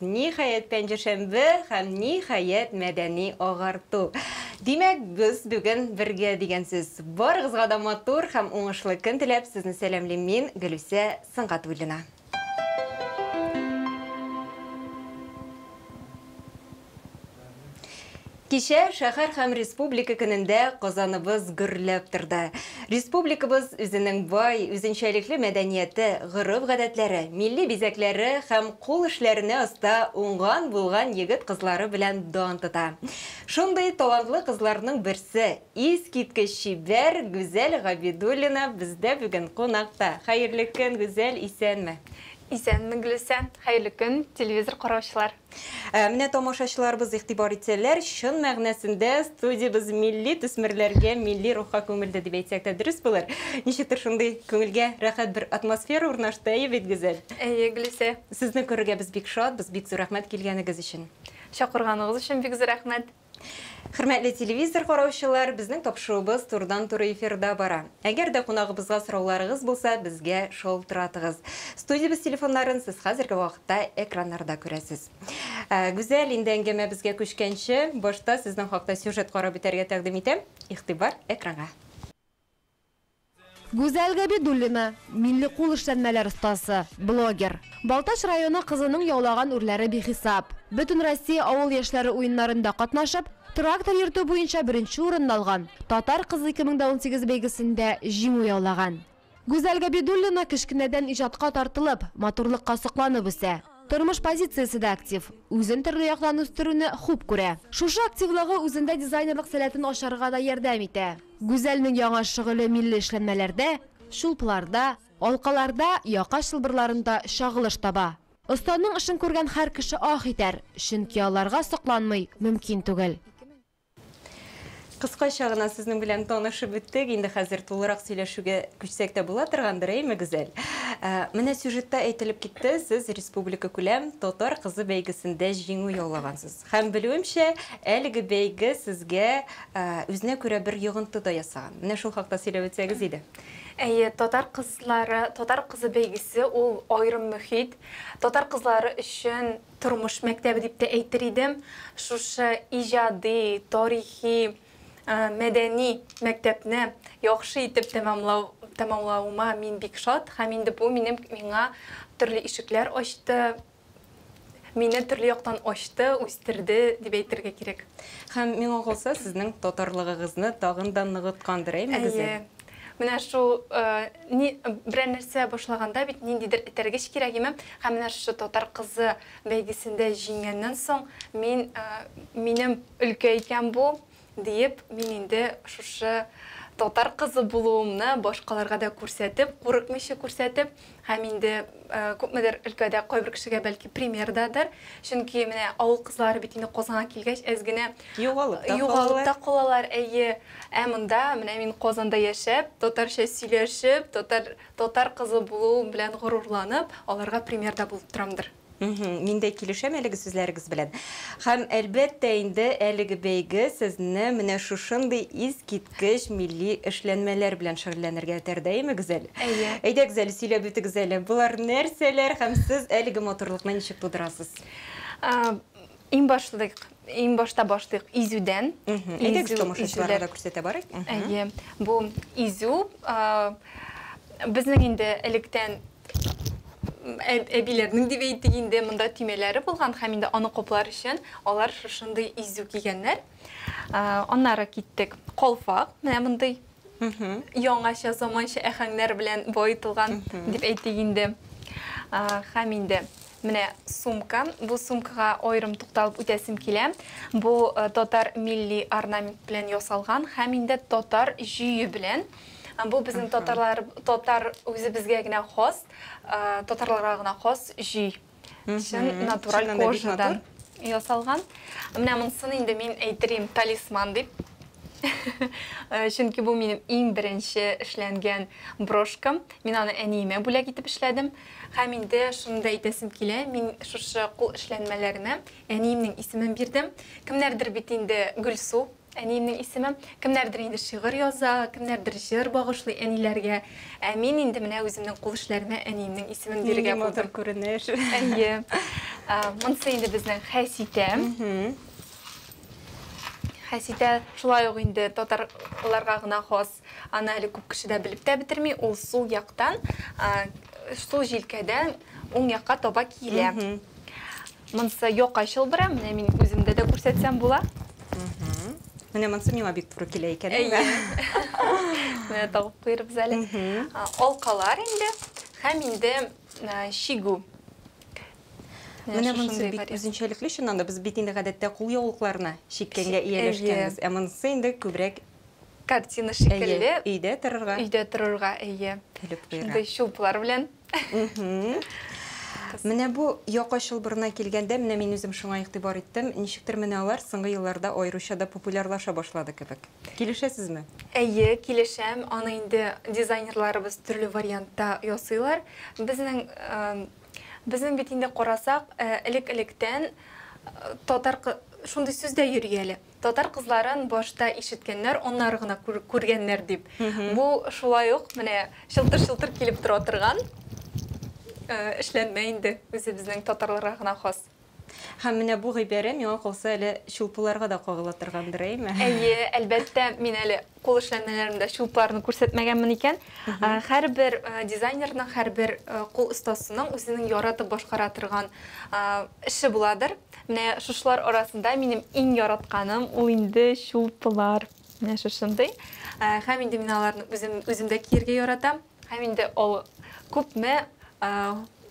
Ниһаять, пәнҗешәмбе һәм ниһаять, мәдәни агарту. Димәк, без бүген бергә дигән сүз. Барыгызга да матур һәм уңышлы көн теләп, сезне сәламлим мин, Гөлүсә Сөнгатуллина. Кичә Шәһәр һәм республика көнендә Казаныбыз гөрләп торды. Республикабыз үзенең бай, үзенчәлекле мәдәнияте, гореф-гадәтләре, милли бизәкләре һәм кул эшләренә оста уңган-булган егет-кызлары белән дан тота. Шундый талантлы кызларның берсе, искиткеч чибәр Гүзәл Габидуллина бездә бүген кунакта. Хәерле көн, Гүзәл, исәнме? Исәнме, Гөлүсә! Хәерле көн, телевизор караучылар! Ә менә тамашачыларыбыз игътибар итсәләр, чын мәгънәсендә студиябез милли төсмерләргә, милли рухка күмелде дип әйтсәк тә дөрес булыр. Ничектер шундый күңелгә рәхәт бер атмосфера урнашты, әйе бит, Гүзәл? Әйе, Гөлүсә. Сезне күрергә без бик шатбыз, бик зур рәхмәт килгәнегез өчен. Чакырганыгыз өчен бик зур рәхмәт. Хөрмәтле телевизор караучылар, безнең тапшыруыбыз турыдан-туры эфирда бара. Әгәр дә кунагыбызга сорауларыгыз булса, безгә шалтыратыгыз. Студиябез телефоннарын сез хәзерге вакытта экраннарда күрәсез. Ә, Гүзәл, инде әңгәмәбезгә күчкәнче, башта сезнең хакта сюжет карап үтәргә тәкъдим итәм. Игътибар экранга. Гүзәл Габидуллина, милли кул эшләнмәләр остасы, блогер. Балтач районы кызының яулаган үрләре бихисап. Бөтенроссия авыл яшьләре уеннарында катнашып, трактор йөртү буенча беренче урынны алган Татар кызы 2018 бәйгесендә җиңү яулаган. Гүзәл Габидуллина кечкенәдән иҗатка тартылып, матурлыкка сокланып үсә. Тормыш позициясе дә актив, үзен төрле яктан үстерүне хуп күрә. Шушы активлыгы үзендә дизайнерлык сәләтен ачарга да ярдәм итә. Гүзәлнең яңа шөгыле милли эшләнмәләрдә, чулпларда, алкаларда, яка чылбырларында чагылыш таба. Останың эшен күргән һәр кеше аһ итәр, чөнки аларга сокланмый мөмкин түгел. Кыскача гына сезнең белән танышып беттек, инде хәзер тулырак сөйләшүгә күчсәк тә була торгандыр, әйме, Гүзәл? Менә сюжетта әйтелеп китте, сез республикакүләм Татар кызы бәйгесендә җиңү яулагансыз. Һәм белүемчә, әлеге бәйге сезгә үзенә күрә бер йогынты да ясаган. Менә шул хакта сөйләп үтсәгез иде. Әйе, Татар кызлары, Татар кызы бәйгесе ул аерым мөхит. Татар кызлары өчен тормыш мәктәбе дип тә әйтер идем. Шушы иҗади, тарихи, мәдәни мәктәпне яхшы итеп тәмамлау, тәмамлавыма мин бик шат. Һәм инде бу минем, миңа төрле ишекләр ачты. Мине төрле яктан ачты, үстерде, дип әйтергә кирәк. Һәм миңа калса, сезнең татарлыгыгызны тагын да ныгыткандыр, әйме Гөзәл? Әйе. Менә шул ни берәр нәрсә башлаганда бит ниндидер этәргеч кирәк име? Һәм менә шушы татар кызы бәйгесендә җиңгәннән соң мин минем өлкә икән бу, Диеп, мин инде шушы татар кызы булуымны башкаларга да күрсәтеп, курыкмыйча күрсәтеп, һәм инде күпмедер өлкәдә кайбер кешегә бәлки пример дадыр. Чөнки менә авыл кызлары бит инде Казанга килгәч әз генә югалып та югалып та калалар. Әйе. Ә монда менә мин Казанда яшәп, татарча сөйләшеп, татар татар кызы булуым белән горурланып, аларга пример да булып торамдыр. Мһм, мин дә килешәм әлеге сүзләрегез белән. Һәм, әлбәттә инде, әлеге бәйге сезне менә шушындый искиткеч милли эшләнмәләр белән шөгыльләнергә этәрде, әйеме, Гүзәл? Әйе. Әйдәгез әле, сөйләп үтегез әле, болар нәрсәләр һәм сез әлеге матурлыкны ничек тудырасыз? Иң башлыйк, иң башта башлыйк изүдән. Әйдәгез, тамашачыларга да күрсәтә барыйк. Әйе, бу изү безнең инде электән әбиләрнең дип әйтик инде монда төймәләре булган һәм инде аны коплар өчен алар шушындый изү кигәннәр. Аннары киттек. Колфак, менә мондый Яңача, заманча әхәңнәр белән баетылган дип әйтик инде. Хәм инде менә сумка. Бу сумкага аерым тукталып үтәсем килә. Бу э, татар милли орнамент белән ясалган хәм инде татар җөе белән. Бу безнең татарлар татар үзебезгә генә хас, э, татарларга гына хас җөй. Чын натураль кожадан ясалган. Менә монсын инде мин әйтерим талисман дип. Э, чөнки бу минем иң беренче эшләнгән брошкам. Мин аны әниемә бүләк итеп эшләдем. Һәм инде шуны да әйтәсем килә, мин шушы кул эшләнмәләренә әниемнең исемен бирдем. Кемнәрдер бит инде Гөлсу Әниемнең исеме. Кемнәрдер инде шигырь яза, кемнәрдер җыр багышлый әниләргә. Ә мин инде менә үземнең кул эшләремә әниемнең исемен бирергә булдым. Нинди матур күренеш. Әйе. Монысы инде безнең Хәситә. Хәситә шулай ук инде татарларга гына хас Аны әле күп кеше дә белеп тә бетерми, ул сул яктан, сул җилкәдән уң якка таба килә. Монсы якай чылбыры, менә мин үземдә дә күрсәтсәм була. Менә монсы миңа бик туры килә икән. Әйе. Менә тагып куйырбыз әле. Алкалар инде һәм инде чигү. Менә монсы бик үзенчәлекле чыннан да. Без бит инде гадәттә кул яулыкларына чиккәнгә ияләшкәнбез. Ә монсы инде күбрәк Картина шикелле. Әйе, өйдә торырга. Өйдә торырга, әйе. Көлеп куярга. Шундый чулпылар белән. Менә бу яка чылбырына килгәндә, менә мин үзем шуңа игътибар иттем. Ничектер менә алар соңгы елларда аеруча да популярлаша башлады кебек. Килешәсезме? Әйе, килешәм. Аны инде дизайнерларыбыз төрле вариантта ясыйлар. Безнең, безнең бит инде карасак, элек-электән татар, шундый сүз дә йөри әле. Татар кызларын башта ишеткәннәр, аннары гына күргәннәр дип. Бу шулай ук менә чылтыр-чылтыр килеп тора торган эшләнмә инде, үзебезнең татарларга гына хас. Һәм менә бу гыйбарә миңа калса әле чулпыларга да кагыла торгандыр, әйме? Әйе, әлбәттә, мин әле Кул эшләнмәләрендә чулпарны күрсәтмәгәнмен икән, һәрбер дизайнерның, һәрбер кул остасының үзенең яратып башкара торган эше буладыр. Менә шушылар арасында минем иң яратканым ул инде чулпылар. Менә шушындый. Һәм инде мин аларны үзем, үзем дә киергә яратам. Һәм инде ул күпме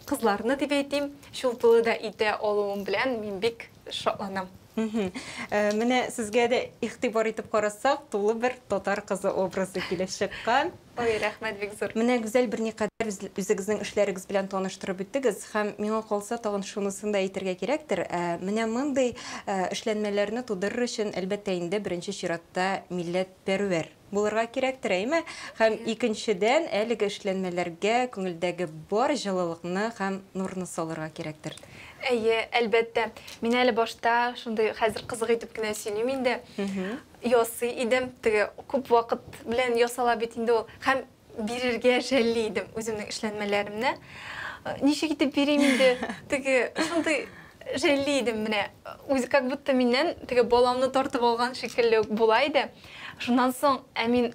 кызларны дип әйтим, шул тулы да итә алуым белән мин бик шатланам. Э, менә сезгә дә игътибар итеп карасак, тулы бер татар кызы образы килеп чыккан. Ой, рәхмәт бик зур. Менә Гүзәл берникадәр үзегезнең эшләрегез белән таныштырып үттегез һәм миңа калса тагын шунысын да әйтергә кирәктер. Э, менә мондый э, эшләнмәләрне тудырыр өчен, әлбәттә инде, беренче чиратта милләт пәрвәр Булырга кирәктер, әйме? Һәм икенчедән, әлеге эшләнмәләргә күңелдәге бар җылылыкны һәм нурны салырга кирәктер. Әйе, әлбәттә. Мин әле башта шундый хәзер кызык итеп кенә сөйлим инде. Ясый идем. Теге күп вакыт белән ясала бит инде ул. Һәм бирергә жәлли идем үземнең эшләнмәләремне. Ничек итеп бирим инде? Теге шундый жәлли идем менә. Үзе как будто миннән теге баламны тартып алган шикелле үк була иде. Шуннан соң Әмин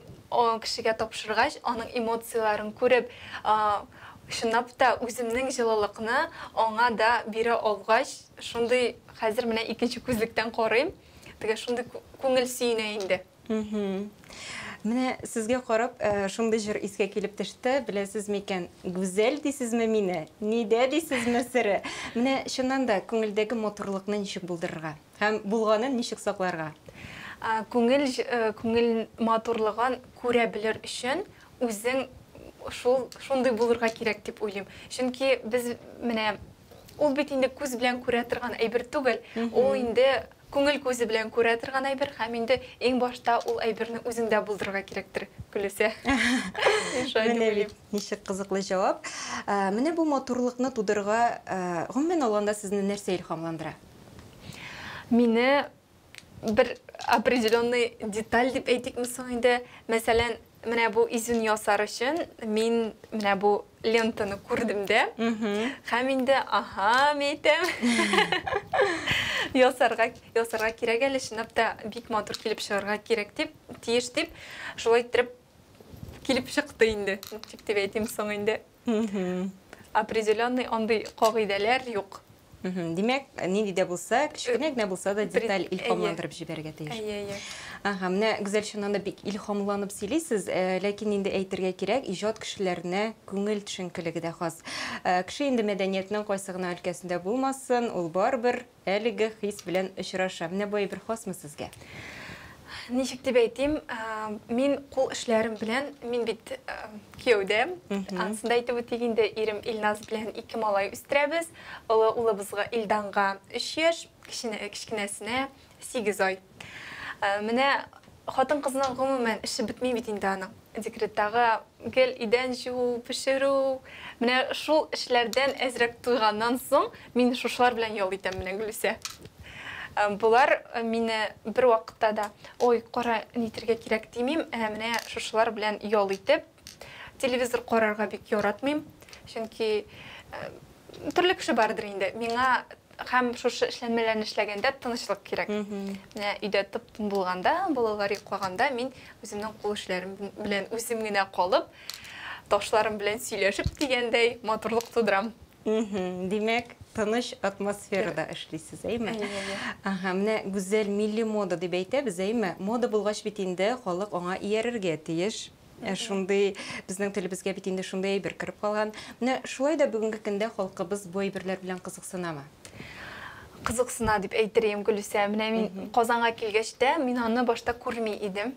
кешегә тапшыргач, аның эмоцияләрен күреп, чынлап та үземнең җылылыкны аңа да бирә алгач, шундый хәзер менә икенче күзлектән карыйм. Теге шундый күңел сөенә инде. Менә сезгә карап, шундый җыр искә килеп төште, беләсез микән, гүзәл дисезме мине, нидә дисезме сере. Менә чыннан да күңелдәге матурлыкны ничек булдырырга һәм булганын ничек сакларга? Күңел күңел матурлыгын күрә белер өчен үзең шул шундый булырга кирәк дип уйлыйм. Чөнки без менә ул бит инде күз белән күрә торган әйбер түгел. Ул инде Күңел күзе белән күрә торган әйбер һәм инде иң башта ул әйберне үзеңдә булдырырга кирәктер, Гөлүсә. Мин шулай дип уйлыйм. Ничек кызыклы җавап. Менә бу матурлыкны тудырырга, гомумән алганда, сезне нәрсә илһамландыра? Мине бер определенный деталь дип әйтикме соң инде, мәсәлән, Менә бу изүн ясар өчен мин менә бу лентаны күрдем дә. Һәм инде, аһа, мәйтәм. Ясарга, ясарга кирәк әле, чынлап та бик матур килеп чыгарга кирәк дип, тиеш дип, шулай иттереп килеп чыкты инде. Тик дип әйтим соң инде. Определенный андый кагыйдәләр юк. Димәк, нинди дә булса, кечкенә генә булса да деталь илһамландырып җибәрергә тиеш. Әйе, әйе. Ага, менә Гүзәл чыннан да бик илһамланып сөйлисез, э, ләкин инде әйтергә кирәк, иҗат кешеләренә күңел төшенкелеге дә хас. Э, кеше инде мәдәниятнең кайсы гына өлкәсендә булмасын, ул барыбер Әлеге хис белән очраша. Менә бу әйбер хасмы сезгә? Ничек дип әйтим, мин кул эшләрем белән, мин бит кияүдә, ансын да әйтеп үтик инде, ирем Илназ белән ике малай үстерәбез. Олы улыбызга Илданга 3 яшь, кечкенәсенә 8 ай. Менә хатын-кызның гомумән эше бетми бит инде аның. Декреттагы гел идән җуу, пешерү, менә шул эшләрдән әзрәк туйганнан соң, мин шушылар белән ял итәм менә, Гөлүсә. Болар мине бервакытта да, ой, кара, нитергә кирәк, димим, ә менә шушылар белән ял итеп, телевизор карарга бик яратмыйм, чөнки төрле кеше бардыр инде, миңа Һәм шушы эшләнмәләрне эшләгәндә тынычлык кирәк. Менә өйдә тып-тын булганда, балалар йоклаганда мин үземнең кул эшләрем белән үзем генә калып, ташларым белән сөйләшеп дигәндәй матурлык тудырам. Димәк, тыныч атмосферада эшлисез, әйме? Ага, менә гүзәл милли мода дип әйтәбез, әйме? Мода булгач бит инде халык аңа иярергә тиеш. Ә шундый безнең телебезгә бит инде шундый әйбер кереп калган. Менә шулай да бүгенге көндә халкыбыз бу әйберләр белән кызыксынамы? Кызыксына дип әйтерем, Гөлүсә. Менә мин Казанга килгәч тә, мин аны башта күрми идем.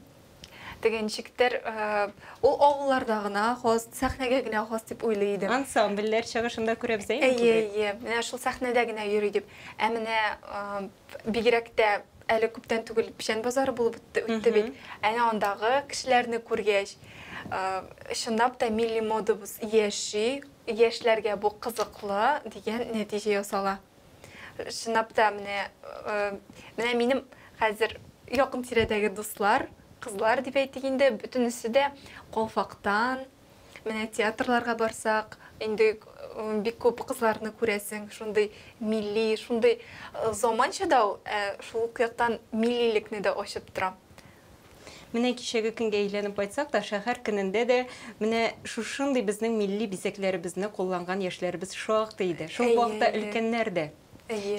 Теге ничектер, э, ул авылларда гына хас, сәхнәгә генә хас дип уйлый идем. Ансамбльләр чыгышында күрәбез әйе. Әйе, әйе. Менә шул сәхнәдә генә йөри дип. Ә менә э, бигрәк тә Әле күптән түгел печән базары булып үтте, үтте бит. Әнә андагы кешеләрне күргәч, чынлап та милли модабыз яши, яшьләргә бу кызыклы дигән нәтиҗә ясала. Чынлап та менә менә минем хәзер якын тирәдәге дуслар, кызлар дип әйтик инде, бөтенесе дә калфактан, Менә театрларга барсак, инде бик күп кызларны күрәсең, шундый милли, шундый заманча да ул, ә шул ук яктан миллилекне дә ачып тора. Менә кичәге көнгә әйләнеп кайтсак та, шәһәр көнендә дә менә шушындый безнең милли бизәкләребезне кулланган яшьләребез шактый иде. Шул ук вакытта өлкәннәр дә.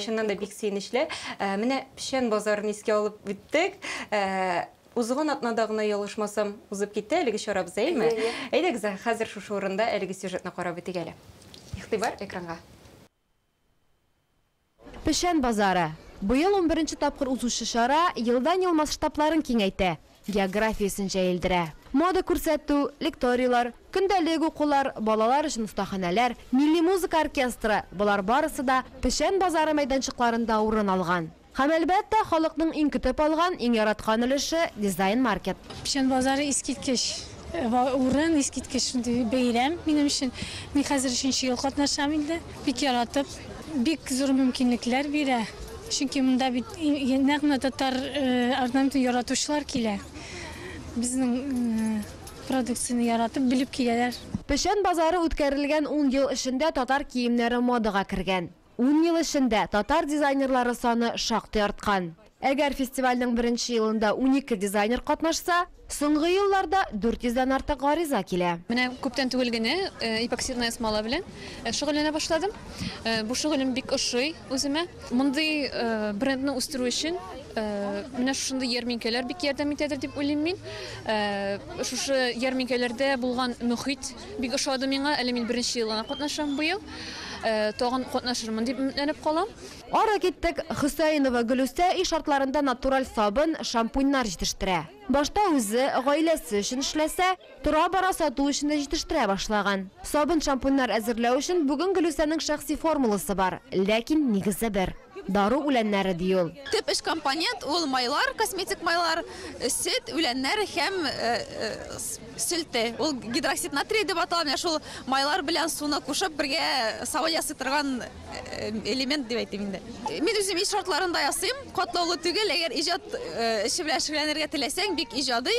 Чыннан да бик сөенечле. Менә Печән базарын искә алып үттек. Узган атнада гына, ялгышмасам, узып китте әлеге чара безәйме? Әйе, әйе. Әйдәгез, хәзер шушы урында әлеге сюжетны карап үтик әле. Игътибар, экранга. Печән базары. Быел унберенче тапкыр узучы чара елдан-ел масштабларын киңәйтә, географиясен җәелдерә. Мода күрсәтү, лекторийлар, көндәлек укулар, балалар өчен остаханәләр, милли музыка оркестры, болар барысы да Печән базары мәйданчыкларында урын алган. Һәм, әлбәттә, халыкның иң көтеп алган, иң яраткан өлеше, Дизайн маркет. Печән базары искиткеч урын, искиткеч шундый бәйрәм минем өчен. Мин хәзер өченче ел катнашам инде. Бик яратып, бик зур мөмкинлекләр бирә. Чөнки монда бит нәкъ менә татар орнаментын яратучылар килә. Безнең продукцияне яратып, белеп киләләр. Печән базары үткәрелгән ун ел эчендә татар киемнәре модага кергән. Ун ел эчендә татар дизайнерлары саны шактый арткан. Әгәр фестивальнең беренче елында унике дизайнер катнашса, соңгы елларда дүрт йөздән артык гариза килә. Менә күптән түгел генә эпоксидная смола белән шөгыльләнә башладым. Бу шөгылем бик ошый үземә. Мондый брендны үстерү өчен менә шушындый ярминкәләр бик ярдәм итәдер дип уйлыйм мин. Шушы ярминкәләрдә булган мөхит, Бик ошады миңа, әле мин беренче ел гына катнашам быел. Тагын катнашырмын дип өметләнеп калам. Ары киттек, Хөсәенова Гөлүсә өй шартларында натураль сабын, шампуньнар җитештерә. Башта үзе, гаиләсе өчен эшләсә, тора-бара сату өчен дә җитештерә башлаган. Сабын-шампуньнар әзерләү өчен бүген Гөлүсәнең шәхси формуласы бар, ләкин нигезе бер, дару үләннәре, ди ул. Төп эш компонент, ул майлар, косметик майлар, сөт, үләннәр һәм Селте, ул гидроксид натрия дип атала, менә шул майлар белән суны кушып бергә сабын ясый торган э, элемент дип әйтим инде. Мин үзем иш шартларында ясыйм, катлаулы түгел, әгәр иҗат э, эше белән шөгыльләнергә теләсәң, бик иҗади.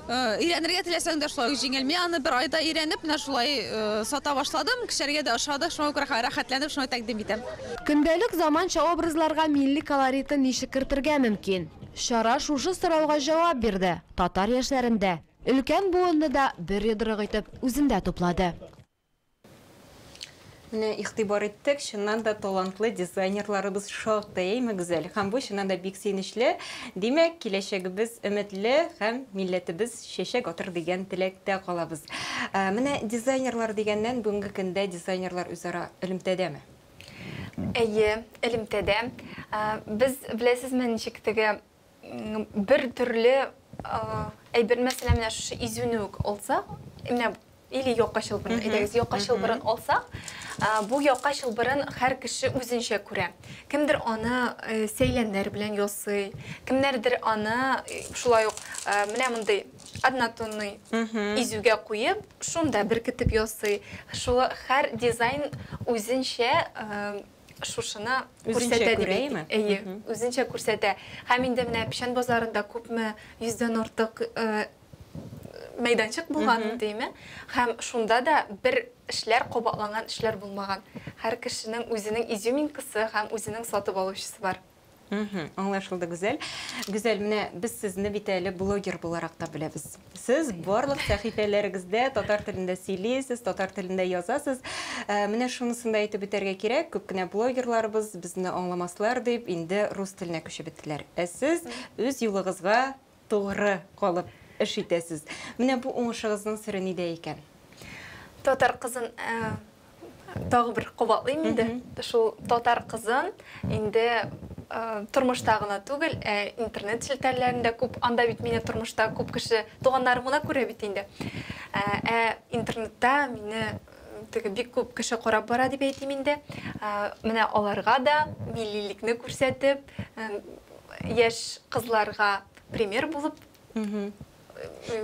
Э, өйрәнергә теләсәң дә шулай җиңел. Мин аны бер айда өйрәнеп, менә шулай сата башладым, кешеләргә дә ошады, шуңа күрә рәхәтләнеп шуны тәкъдим итәм. Көндәлек заманча образларга милли колоритын ничек кертергә мөмкин? Чара шушы сорауга җавап бирде. Татар яшьләрен дә, өлкән буынны да бер йодрык итеп үзендә туплады. Менә игътибар иттек, чыннан да талантлы дизайнерларыбыз шактый, әйме, Гүзәл? Һәм бу чыннан да бик сөенечле. Димәк, киләчәгебез өметле һәм милләтебез чәчәк атыр дигән теләктә калабыз. Менә дизайнерлар дигәннән, бүгенге көндә дизайнерлар үзара элемтәдәме? Әйе, элемтәдә. Без, беләсезме, ничек теге бер төрле әйбер мәсәлә менә шушы изүне үк алсак менә или якка чылбырын әйдәгез якка чылбырын алсак бу якка чылбырын һәр кеше үзенчә күрә кемдер аны э, сәйләннәр белән ясый кемнәрдер аны э, шулай ук э, менә мондый однотонный изүгә куеп шунда беркетеп ясый шулай һәр дизайн үзенчә шушыны күрсәтә дип әйтик. Әйе, үзенчә күрсәтә. Һәм инде менә Печән базарында күпме йөздән артык мәйданчык булган дими. Һәм шунда да бер эшләр кабатланган эшләр булмаган. Һәр кешенең үзенең изюминкасы һәм үзенең сатып алучысы бар. Мхм, аңлашылды, Гүзәл. Гүзәл, менә без сезне бит әле блогер буларак та беләбез. Сез барлык сәхифәләрегездә татар телендә сөйлисез, татар телендә язасыз. Ә, Менә шунысын да әйтеп үтәргә кирәк, күп кенә блогерларыбыз безне аңламаслар дип, инде рус теленә күчеп беттеләр. Ә сез үз юлыгызга Тугры калып эш итәсез. Менә бу уңышыгызның сере нидә икән? Татар кызын тагы бер кабатлыйм инде. Шул татар кызын инде тормышта гына түгел, ә интернет челтәрләрендә күп, анда бит мине тормышта күп кеше туганнарым гына күрә бит инде. Ә интернетта мине Теге бик күп кеше карап бара дип әйтим инде. Менә аларга да миллилекне күрсәтеп, яшь кызларга пример булып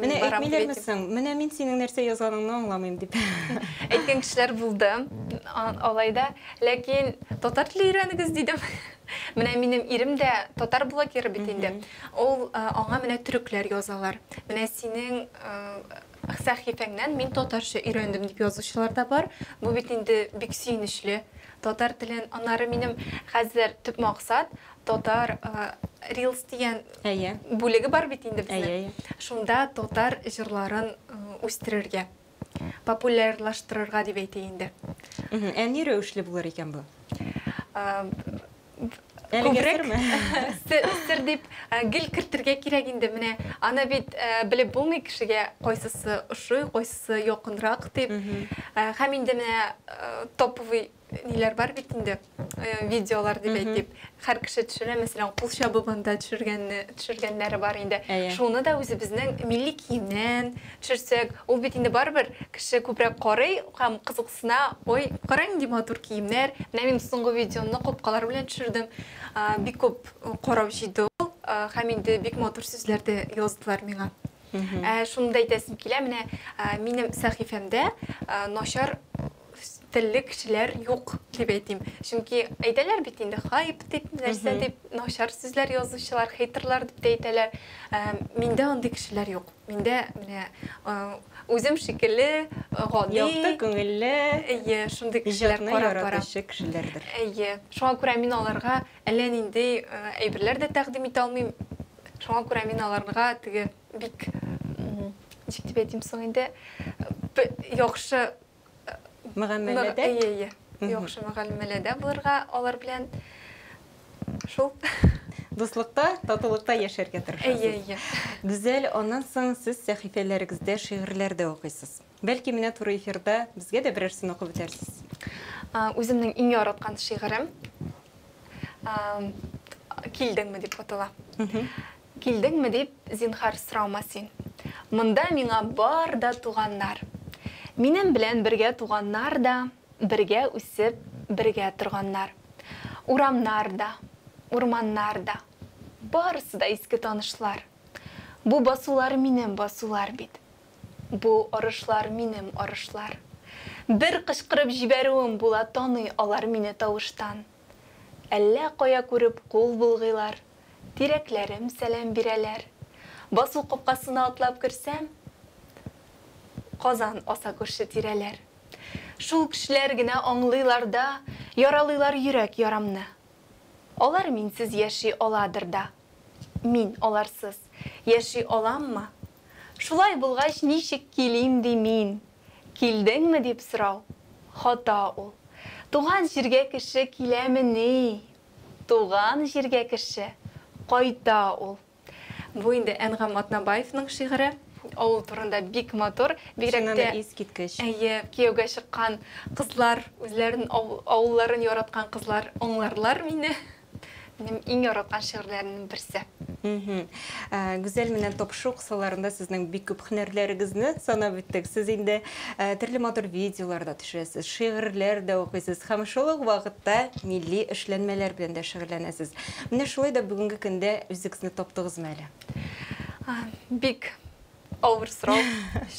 Менә әйтмиләр мисең? Менә мин синең нәрсә язганыңны аңламыйм дип. Әйткән кешеләр булды. Алай да, ләкин татар теле өйрәнегез дидем. Менә минем ирем дә татар блогеры бит инде. Ул аңа менә төрекләр язалар. Менә синең Сәхифәңнән мин татарча өйрәндем дип язучылар да бар. Бу бит инде бик сөенечле. Татар телен, аннары минем хәзер төп максат, татар Reels дигән Әйе. бүлеге бар бит инде безнең. Әйе, әйе. Шунда татар җырларын үстерергә, популярлаштырырга дип әйтик инде. Мгм. Ә ни рәвешле булыр икән бу? күбрәк сер дип гел кертергә кирәк инде менә аны бит белеп булмый кешегә кайсысы ошый кайсысы якынрак дип һәм инде менә топовый ниләр бар бит инде видеолар дип әйтик һәр кеше төшерә мәсәлән кул чабып анда төшергәнне төшергәннәре бар инде шуны да үзебезнең милли киемнән Төшерсәк, ул бит инде барыбер кеше күбрәк карый һәм кызыксына, ой, кара нинди матур киемнәр, менә мин соңгы видеоны курткалар белән төшердем, бик күп карау җыйды ул, һәм инде бик матур сүзләр дә яздылар миңа. Ә шуны да әйтәсем килә, менә минем сәхифәмдә начар үз телле кешеләр юк дип әйтим. Чөнки әйтәләр бит инде хайп дип, нәрсә дип, начар сүзләр язучылар, хейтерлар дип тә әйтәләр. Ә, Миндә андый кешеләр юк. Миндә менә ә, үзем шикелле ә, гади, Якты күңелле, әйе, шундый кешеләр иҗатны карап бара. яратучы кешеләрдер. Әйе. Шуңа күрә мин аларга әллә нинди ә, әйберләр дә тәкъдим итә алмыйм. Шуңа күрә мин аларга теге бик, м, ничек дип әйтим соң инде, б- яхшы Мөгамәләдә? Әйе, әйе. Яхшы мөгамәләдә булырга алар белән шул. Дуслыкта, татулыкта яшәргә тырышасыз. Әйе, әйе. Гүзәл, аннан соң сез сәхифәләрегездә шигырьләр дә укыйсыз. Бәлки менә туры эфирда безгә дә берәрсен укып үтәрсез? Үземнең иң яраткан шигырем Килдеңме дип атала. Килдеңме дип зинһар сораума син. Монда миңа бар да туганнар. Минем белән бергә туганнар да, Бергә үсеп, бергә торганнар. Урамнар да, урманнар да, Барысы да иске танышлар. Бу басулар минем басулар бит. Бу арышлар минем арышлар. Бер кычкырып җибәрүем була Таный алар мине тавыштан. Әллә кая күреп кул болгыйлар, Тирәкләрем сәлам бирәләр. Басу капкасына атлап керсәм, Казан аса күрше-тирәләр. Шул кешеләр генә аңлыйлар да, Яралыйлар йөрәк ярамны. Алар минсез яши аладыр да. Мин аларсыз яши аламмы? Шулай булгач, ничек килим ди мин? Килдеңме дип сорау, хата ул. Туган җиргә кеше киләмени? Туган җиргә кеше кайта ул. Бу инде Әнгам Атнабаевның шигыре. Авыл турында бик матур. Бигрәк тә, әйе, кияүгә чыккан кызлар, үзләрен, авылларын яраткан кызлар аңларлар мине. Минем иң яраткан шигырьләремнең берсе. Гүзәл, менә топшу кысаларында сезнең бик күп һөнәрләрегезне санап үттек. Сез инде төрле матур видеолар да төшерәсез, шигырьләр дә укыйсыз һәм шул ук вакытта милли эшләнмәләр белән дә шөгыльләнәсез. Менә шулай да бүгенге көндә үзегезне таптыгызмы әле? Бик авыр сорау,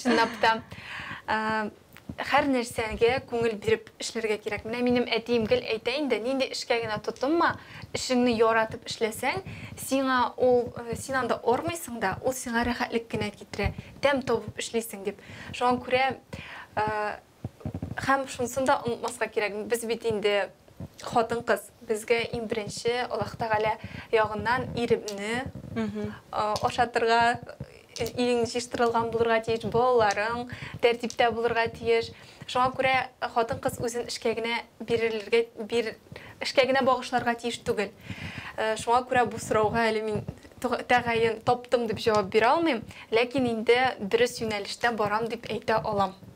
чынлап та. Хәр нәрсәгә күңел биреп эшләргә кирәк. Менә минем әтием гел әйтә инде, нинди эшкә генә тотынма, эшеңне яратып эшләсәң, сиңа ул, син анда армыйсың да, ул сиңа рәхәтлек кенә китерә, тәм табып эшлисең дип. Шуңа күрә, һәм шунысын да онытмаска кирәк, без бит инде хатын-кыз. Безгә иң беренче Аллаһ Тәгалә ягыннан иремне ашатырга, ирең җыештырылган булырга тиеш, балаларың тәртиптә булырга тиеш. Шуңа күрә хатын-кыз үзен эшкә генә бирелергә, бир, эшкә генә багышларга тиеш түгел. Шуңа күрә бу сорауга әле мин тәгаен таптым дип җавап бирә алмыйм, ләкин инде дөрес юнәлештә барам дип әйтә алам.